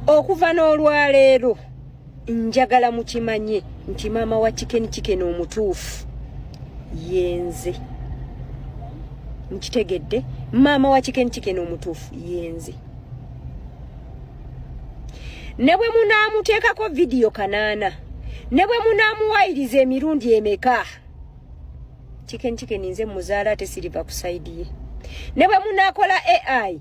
okuva n'olwaleero njagala mukimanye nti maama wa chicken chicken omutuufu yenze nkitegedde maama wa chicken chicken omutuufu yenze ne bwe munaamuteekako vidiyo kanaana ne bwe munaamuwayiriza emirundi emeka chicken chicken nze muzaala ate siriva ku saidi ye ne bwe munaakola ai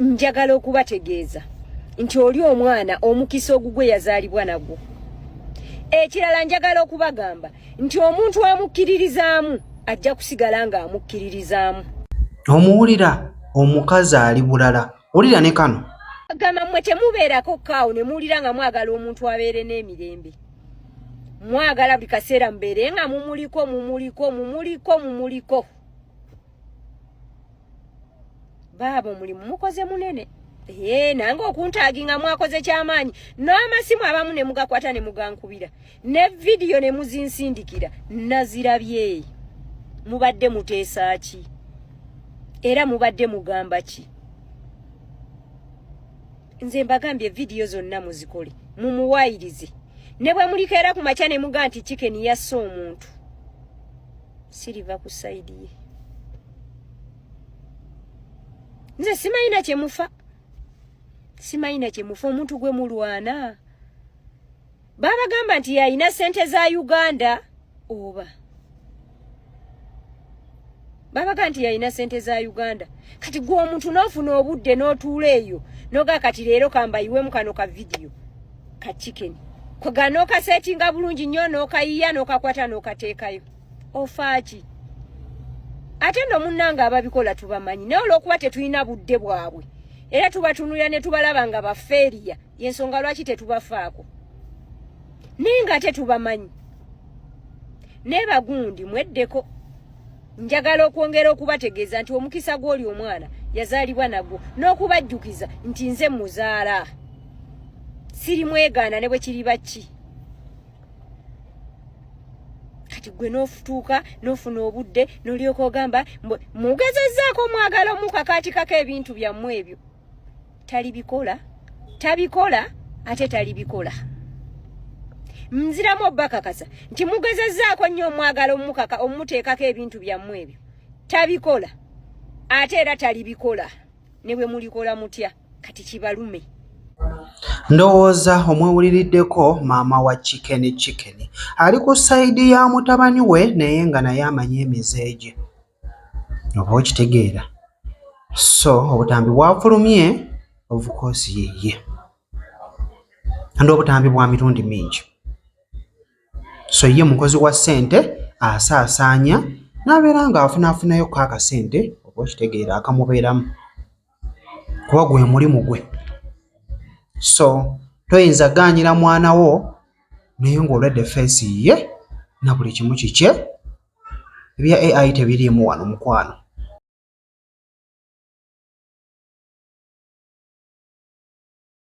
njagala okubategeeza nti oli omwana omukisa ogugwe yazaalibwa nagwo ekirala njagala okubagamba nti omuntu amukkiririzaamu ajja kusigala ng'amukkiririzaamu omuwulira omukazi ali bulala wulira ne kano gamba mmwe temubeerako kaawo ne muwulira nga mwagala omuntu abeere n'emirembe mwagala buli kaseera mubeere nga mumuliko mumuliko mumuliko mumuliko baaba omulimu mukoze munene ee nange okuntaaginga mwakoze kyamaanyi n'amasimu abamu ne mugakwata ne mugankubira ne vidiyo ne muzinsindikira nazirabye mubadde muteesa ki era mubadde mugamba ki nze mbagambye vidiyo zonna muzikole mumuwayirize ne bwe mulikeera ku makya ne muga nti kikeni yassa omuntu siriva ku sayidi ye nze simayina kyemufa simayina kyemufa omuntu gwe mulwana babagamba nti yalina sente za uganda oba babaga nti yalina sente za uganda kati gwe omuntu n'ofuna obudde n'otuula eyo noga kati leero kambayiwemu kano ka vidiyo ka chicken koga nokasetinga bulungi nnyo nokayiya nokakwata nokateekayo ofaaki ate no munnanga ababikola tubamanyi naye olwokuba tetulina budde bwabwe era tubatunulira ne tubalaba nga bafeeriya yensonga lwaki tetubafaako naye nga ate tubamanyi naye bagundi mweddeko njagala okwongera okubategeeza nti omukisa gw'oli omwana yazaalibwa nagwo n'okubajjukiza nti nze muzaala siri mwegaana ne bwe kiriba ki kati gwe n'ofutuuka n'ofuna obudde n'olyoka ogamba mugezezzaako omwagala omukakaatikako ebintu byammwe ebyo talibikola tabikola ate talibikola nziramu obakakasa nti mugezezzaako nnyo omwagala omukaka omuteekako ebintu byammwe ebyo tabikola ate era talibikola ne bwe mulikola mutya kati kibalume ndowooza omwewuliriddeko maama wa chicken chicken ali ku sayidi ya mutabani we naye nga naye amanyi emize gye oba okitegeera so obutambi bwafulumye ovukosi yeye andi obutambi bwa mirundi mingi so ye mukozi wa ssente asaasaanya n'abeera ng'afunaafunayo ko akasente oba okitegeera akamubeeramu kuba gwe mulimu gwe so toyinza ganyira mwana wo naye ng'olwedde feesi ye na buli kimu kikye ebya ai tebiriimu wano mukwano